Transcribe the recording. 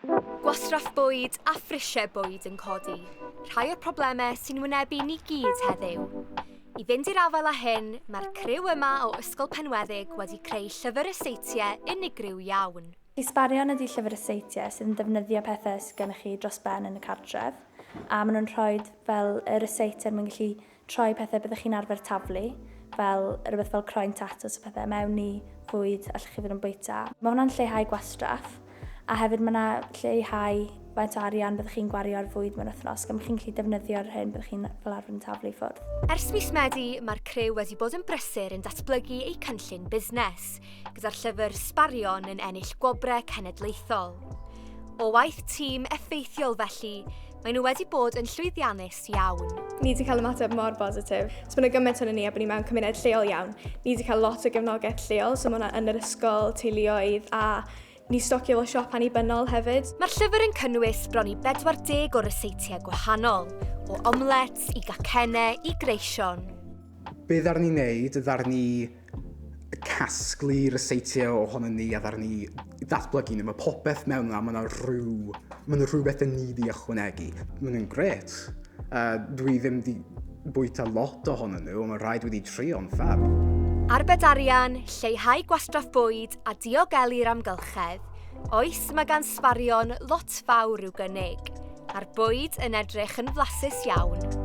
Gwastraff bwyd a phrisiau bwyd yn codi, rhai o'r problemau sy'n wynebu ni gyd heddiw. I fynd i'r afael â hyn, mae'r criw yma o Ysgol Penweddig wedi creu llyfr y seitiau unigryw iawn. Ysbarion ydy llyfr y seitiau sydd yn defnyddio pethau sydd gennych chi dros ben yn y cartref, a maen nhw'n rhoi fel y ryseitiau er mwyn gallu troi pethau byddwch chi'n arfer taflu, fel rhywbeth fel croen tatws a phethau, mewn i fwyd allwch chi fod yn bwyta. Mae hwnna'n lleihau gwastraff, a hefyd mae yna lleihau faint o arian byddwch chi'n gwario ar fwyd mewn wythnos, gan bod chi'n gallu defnyddio'r hyn byddwch chi'n fel arfer yn taflu i ffwrdd. Ers mis Medi, mae'r criw wedi bod yn brysur yn datblygu eu cynllun busnes, gyda'r llyfr Sbarion yn ennill gwobrau cenedlaethol. O waith tîm effeithiol felly, maen nhw wedi bod yn llwyddiannus Gret iawn. Ni wedi cael ymateb mor bositif. So mae yna gymaint o'n ni a bod ni mewn cymuned lleol iawn. Ni wedi cael lot o gefnogaeth lleol, so mae yna yn yr ysgol, teuluoedd a Ni stocio fel siop annibynnol hefyd. Mae'r llyfr yn cynnwys bron i 40 o ryseitiau gwahanol, o omlets i gacenne i greision. Beth arni wneud, ddaru ni casglu ryseitiau ohonon ni a dda'r ni ddatblygu nhw. Mae popeth mewn yna, mae yna rhyw, mae yna rhywbeth yn ni di ychwanegu. Mae nhw'n gret. Uh, dwi ddim di bwyta lot ohonon nhw, ond mae rhaid wedi trio yn ffab. Arbed arian, lleihau gwastraff bwyd a diogelu'r amgylchedd. Oes, mae gan sbarion lot fawr i'w gynnig, a'r bwyd yn edrych yn flasus iawn.